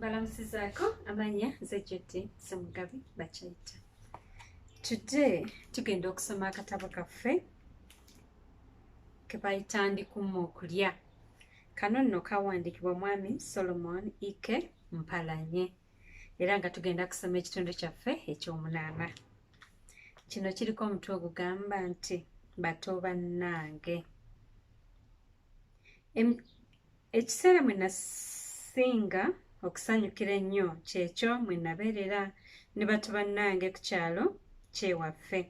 balamusizaako amanya zejjodde semugabi bakyayita today tugenda okusoma akatabo kaffe kebayita ndikumma okulya kano nno kawandiikibwa mwami solomon ike mpalanye era nga tugenda kusoma ekitundu kyaffe ekyomunaana kino kiriko omutwe ogugamba nti bato bannange ekiseera mwe nasinga okusanyukira ennyo kyekyo mwe nabeerera ne bato bannange ku kyalo kyewaffe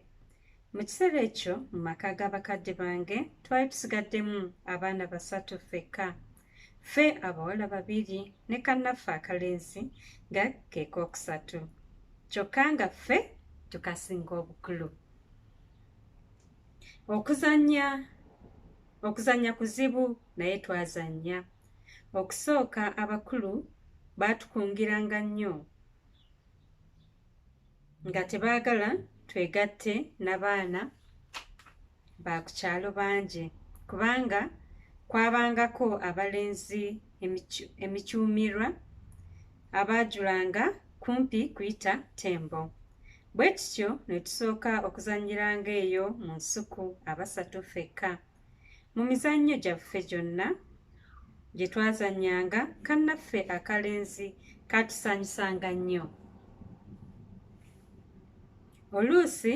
mu kiseera ekyo mu maka g'abakadde bange twali tusigaddemu abaana basatu ffekka ffe abawala babiri ne kannaffe akalenzi nga keekookusatu kyokka nga ffe tukasinga obukulu okuzannya okuzannya kuzibu naye twazannya okusooka abakulu baatukungiranga nnyo nga tebaagala twegatte nabaana baakukyalo bangi kubanga kwabangako abalenzi emicuumirwa abaajulanga kumpi kuyita tembo bwe tutyo ne tusooka okuzannyiranga eyo mu nsuku abasatu fekka Mu mizannyo gyaffe gyonna gye twazannyanga, kannaffe akalenzi kaatusanyusanga nnyo. Oluusi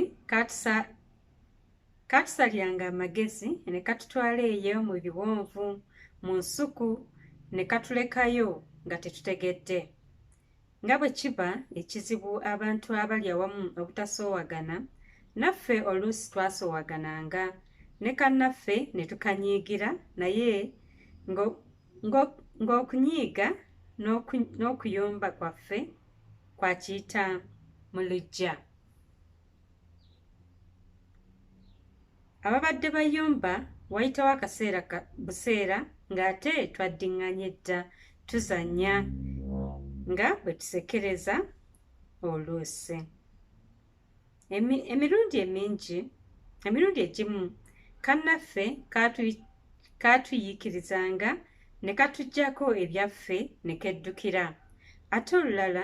kaatusalyanga amagezi ne katutwala eyo mu biwonvu, mu nsuku ne katulekayo nga tetutegedde. Nga bwe kiba ekizibu abantu abali awamu obutasoowagana, naffe oluusi twasoowagananga ne kannaffe ne tukanyiigira naye ng'okunyiiga n'okuyomba kwaffe kwa kiyita mu luggya. ababadde bayomba wayitawo akaseera buseera ng'ate twaddinganye dda tuzanya nga bwe tusekereza oluusi emirundi emingi emirundi egimu kannaffe kaatuyiikirizanga ne katugyako ebyaffe ne keddukira ate olulala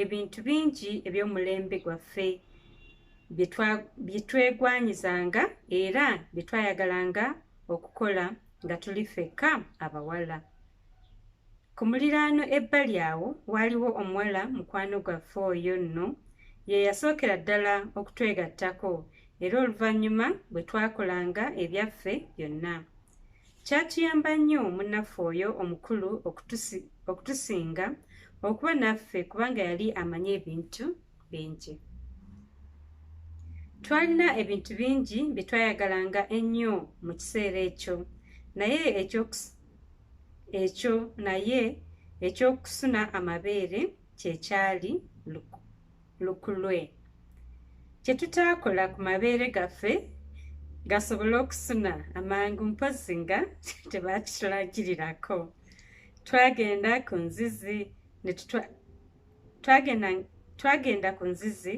ebintu bingi eby'omulembe gwaffe bye twegwanyizanga era bye twayagalanga okukola nga tuli ffekka abawala ku muliraano ebbali awo waaliwo omuwala mukwano gwaffe oyo nno ye yasookera ddala okutwegattako era oluvannyuma bwe twakolanga ebyaffe byonna Kyatuyamba nnyo munnaffe oyo omukulu okutusinga okuba naffe kubanga yali amanyi ebintu bingi. Twalina ebintu bingi bye twayagalanga ennyo mu kiseera ekyo, naye ekyo naye eky'okusuna amabeere kye kyali luku. lukulwe kye tutaakola ku mabeere gaffe gasobole okusuna amangu mpozi nga tebakitulagirirako twagenda ku nzizi twagenda ku nzizi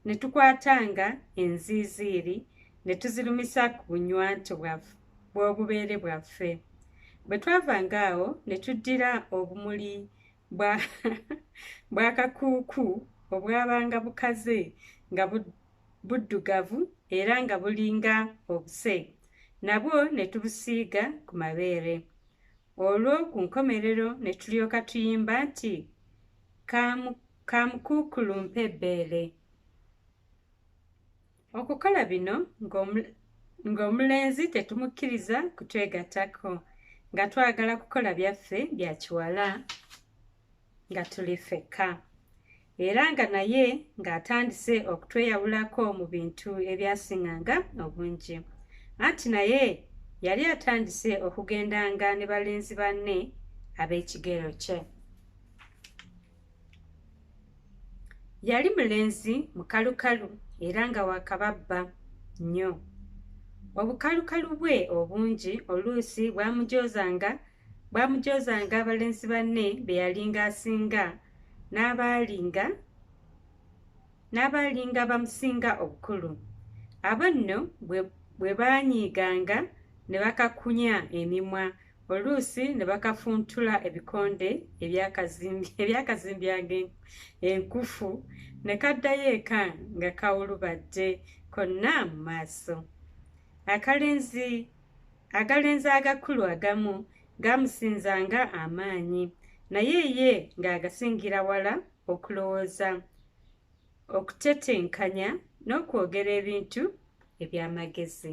ne tukwatanga enziiziiri ne tuzirumisa ku bunywanto bw'obubeere bwaffe bwe twavanga awo ne tuddira obumuli bwa bwakakuuku obwabanga bukaze nga buddugavu era nga bulinga obuse nabwo ne tubusiiga ku mabeere olwo ku nkomerero ne tulyoka tuyimba nti kamukuukulumpa ebbeere Okukola bino ng'omulenzi tetumukkiriza kutwegattako nga twagala kukola byaffe bya kiwala nga tuli ffekka era nga naye ng'atandise okutweyawulako mu bintu ebyasinganga obungi anti naye yali atandise okugendanga ne balenzi banne ab'ekigero kye yali mulenzi mukalukalu era nga wakababba nnyo obukalukalu bwe obungi oluusi bwamujozanga bwamujozanga abalenzi banne be yalinga asinga n'abaalinga n'abaalinga bamusinga obukulu abo nno bwe baanyiiganga ne bakakunya emimwa oluusi ne bakafuntula ebikonde ebyakazimbyanga enkufu ne kaddayo eka nga kawulubadde konna mu maaso akalenzi agalenzi agakulu agamu gamusinzanga amaanyi naye ye ng'agasingira wala okulowooza okutetenkanya n'okwogera ebintu eby'amagezi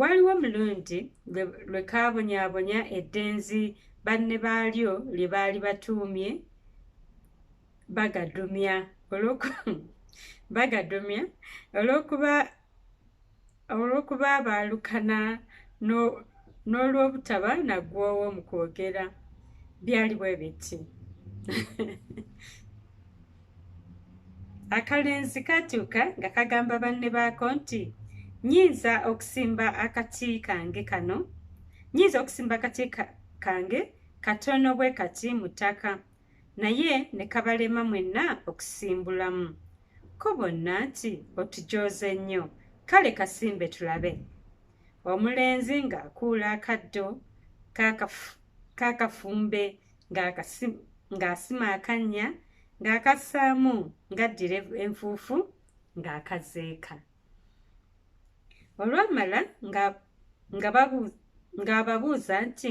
Waliwo omulundi lwe kaabonyaabonya eddenzi banne baalyo lye baali batuumye bagadumya bagadumya olw'okuba olw'okuba baalukana n'olw'obutaba naggwoowo mu kwogera byali bwe biti akalenzi katuuka nga kagamba banne baako nti nyinza okusimba akati kange kano nyinza okusimba akati kange katono bwe kati mu ttaka naye ne kabalema mwenna okusimbulamu ko bonna nti otujooze nnyo kale kasimbe tulabe omulenzi ng'akuula akaddo kakafumbe ng'asima akannya ng'akassaamu ng'addira enfuufu ng'akazeeka olwamala ng'ababuuza nti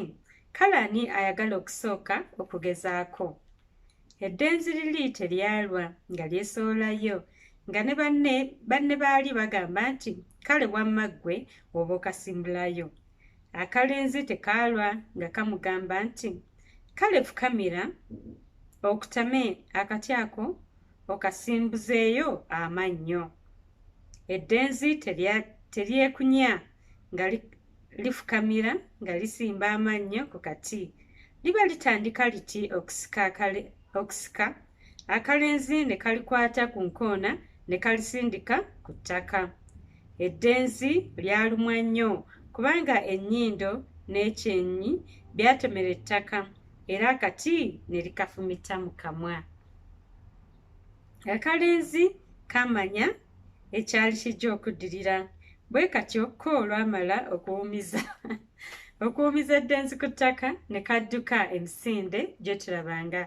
kale ani ayagala okusooka okugezaako eddenzi liri teryalwa nga lyesoolayo nga ne banne banne baali bagamba nti kale wamma ggwe oba okasimbulayo akalenzi tekaalwa nga kamugamba nti kale fukamira okutame akati ako okasimbuzeeyo amannyo eddenzi teryekunya nga lifukamira nga lisimba amannyo ku kati liba litandika liti okusika akalenzi ne kalikwata ku nkoona ne kalisindika ku ttaka eddenzi lyalumwa nnyo kubanga ennyindo n'ekyenyi byatomera ettaka era akati ne likafumita mu kamwa akalenzi kamanya ekyali kijja okuddirira bwe katyo ko olwamala okuwumiza okuwumiza eddenzi ku ttaka ne kadduka emisinde gye tulabanga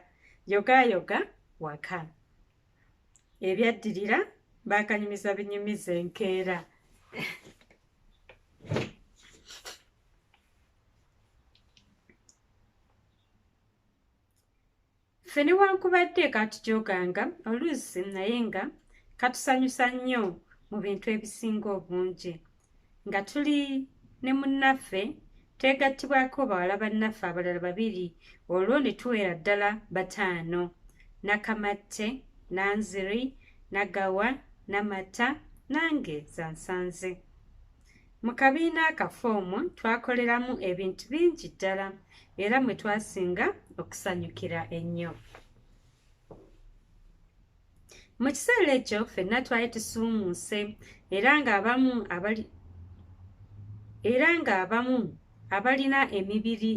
yogaayoga waka ebyaddirira baakanyumiza binyumiza enkeera ffe newankubadde katujoganga oluusi naye nga katusanyusa nnyo mu bintu ebisinga obungi nga tuli ne munnaffe twegattibwako bawala bannaffe abalala babiri olwo ne tuwera ddala bataano nakamatte nanziri nagawa namata nange zansanze mu kabiina akafa omwo twakoleramu ebintu bingi ddala era mwe twasinga okusanyukira ennyo mu kiseera ekyo fenna twali tusuumuuse era ng'abamu abali era ng'abamu abalina emibiri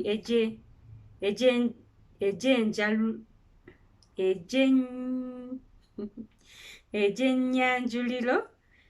egyenyanjuliro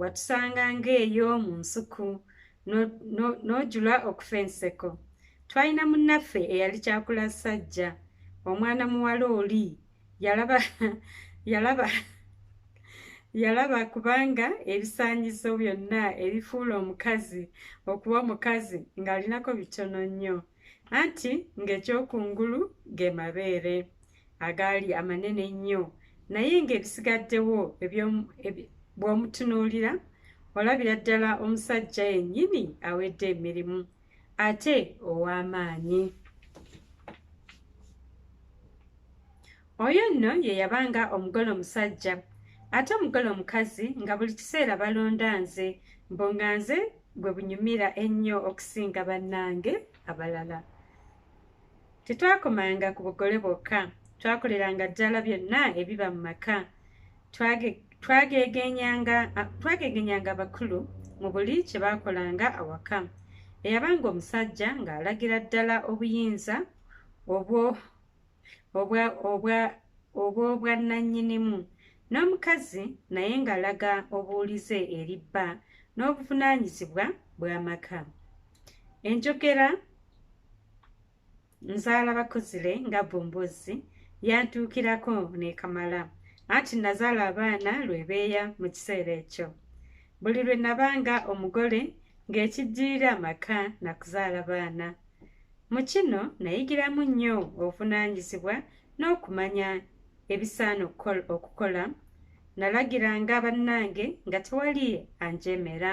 watusanga ng'eyo mu nsuku n'ojula okufa enseko twalina munnaffe eyali kyakula ssajja omwana muwala oli yalaba yalaba yalaba kubanga ebisaanyizo byonna ebifuula omukazi okuba omukazi ng'alinako bitono nnyo anti ng'ekyokungulu ge mabeere agaali amanene ennyo naye ng'ebisigaddewo bw'omutunuulira olabira ddala omusajja yennyini awedde emirimu ate ow'amaanyi oyo nno ye yabanga omugole omusajja ate omugole omukazi nga buli kiseera balonda nze mbu nga nze gwe bunyumira ennyo okusinga bannange abalala Tetwakomanga ku bugole bwokka, twakoleranga ddala byonna ebiba mu maka. Twageegenyanga abakulu mu buli kye baakolanga awaka. Eyabanga omusajja ng'alagira ddala obuyinza obw'obwannannyinimu, n'omukazi naye ng'alaga obuwulize eri bba n'obuvunaanyizibwa bw'amaka. enjogera nzaala bakuzire nga bumbuzi yantuukirako nekamala anti nazaala abaana lwebeeya mu kiseera ekyo buli lwe nabanga omugole ng'ekijjirira amaka nakuzaala baana mu kino nayigiramu nnyo obuvunaanyizibwa n'okumanya ebisaana okukola nalagiranga bannange nga tewali anjemera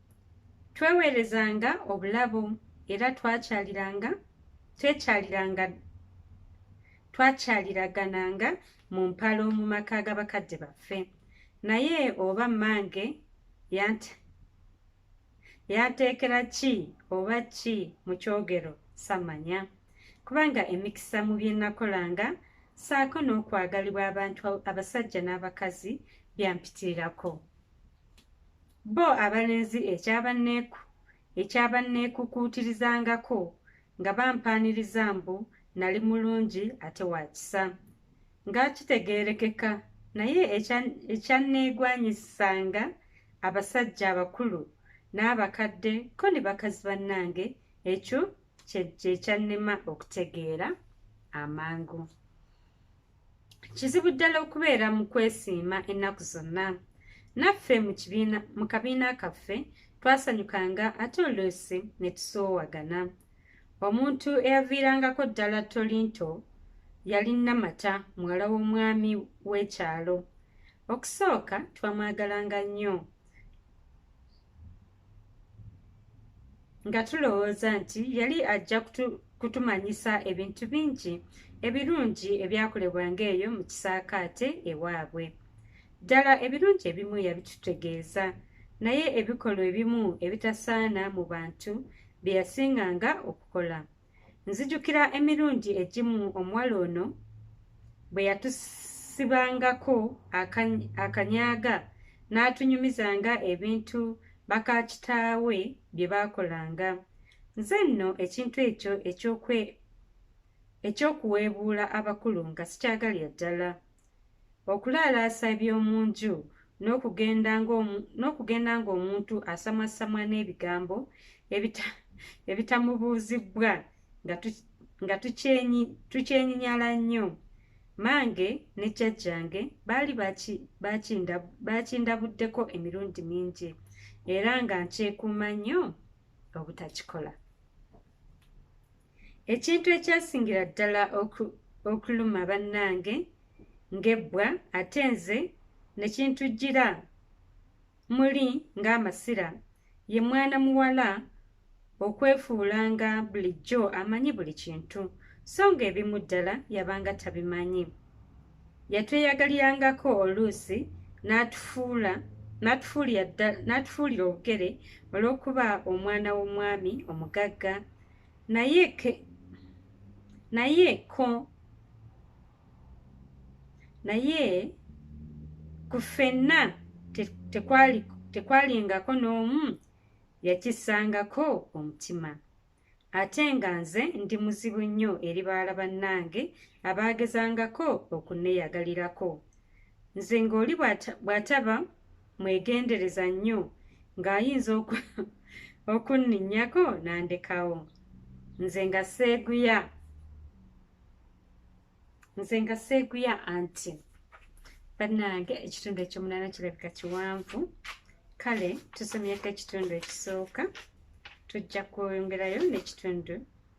tweweerezanga obulabo era twakyaliranga twekyaliranga twakyaliragananga mu mpalo mu maka ga bakadde baffe naye oba mmange yanteekera ki oba ki mu kyogero samanya kubanga emikisa mu bye nakolanga saako n'okwagalibwa abantu abasajja n'abakazi byampitirirako Bo abalenzi ekyabanneeku ekyabanneekukuutirizangako nga bampaaniriza mbu nali mulungi ate wa kisa nga kitegeerekeka naye ekyanneegwanyisanga abasajja abakulu n'abakadde ko ne bakazi bannange ekyo kye kyannema okutegeera amangu kizibu ddala okubeera mu kwesiima ennaku zonna naffe mu kabiina kaffe twasanyukanga ate oluusi ne tusoowagana omuntu eyaviirangako ddala tolinto yali namata muwala w'omwami w'ekyalo okusooka twamwagalanga nnyo nga tulowooza nti yali ajja kutumanyisa ebintu bingi ebirungi ebyakolebwanga eyo mu kisaakaate ewaabwe ddala ebirungi ebimu yabitutegeeza naye ebikolwa ebimu ebitasaana mu bantu bye yasinganga okukola nzijukira emirundi egimu omuwala ono bwe yatusibangako akanyaaga n'atunyumizanga ebintu bakaakitaawe bye baakolanga nze nno ekintu ekyo eky'okuweebuula abakulu nga sikyagalya ddala Okulaalaasa eby'omu nju n'okugenda ng'omuntu asamwasamwa n'ebigambo ebitamubuuzibbwa nga tukyenyinyala nnyo. Mmange ne jjajjange baali baakindabuddeko emirundi mingi era nga nkyekuuma nnyo obutakikola. ekintu ekyasingira ddala okuluma bannange ng'ebbwa ate nze ne kintujjira muli ng'amasira ye mwana muwala okwefuula nga bulijjo amanyi buli kintu so ng'ebimu ddala yabanga tabimanyi yatweyagalirangako oluusi n'atufuula n'atufuulira obugere olw'okuba omwana w'omwami omugagga naye ke naye ko naye ku ffenna tekwalingako n'omu yakisangako omutima ate nga nze ndi muzibu nnyo eri baala bannange abaagezangako okunneyagalirako nze ng'oli bw'ataba mwegendereza nnyo ng'ayinza okunninyako nandekawo nze nga seeguya nze nga seeguya anti bannange ekitundu ekyomunaana kirabika kiwanvu kale tusomyeko ekitundu ekisooka tujja kwongerayo n'ekitundu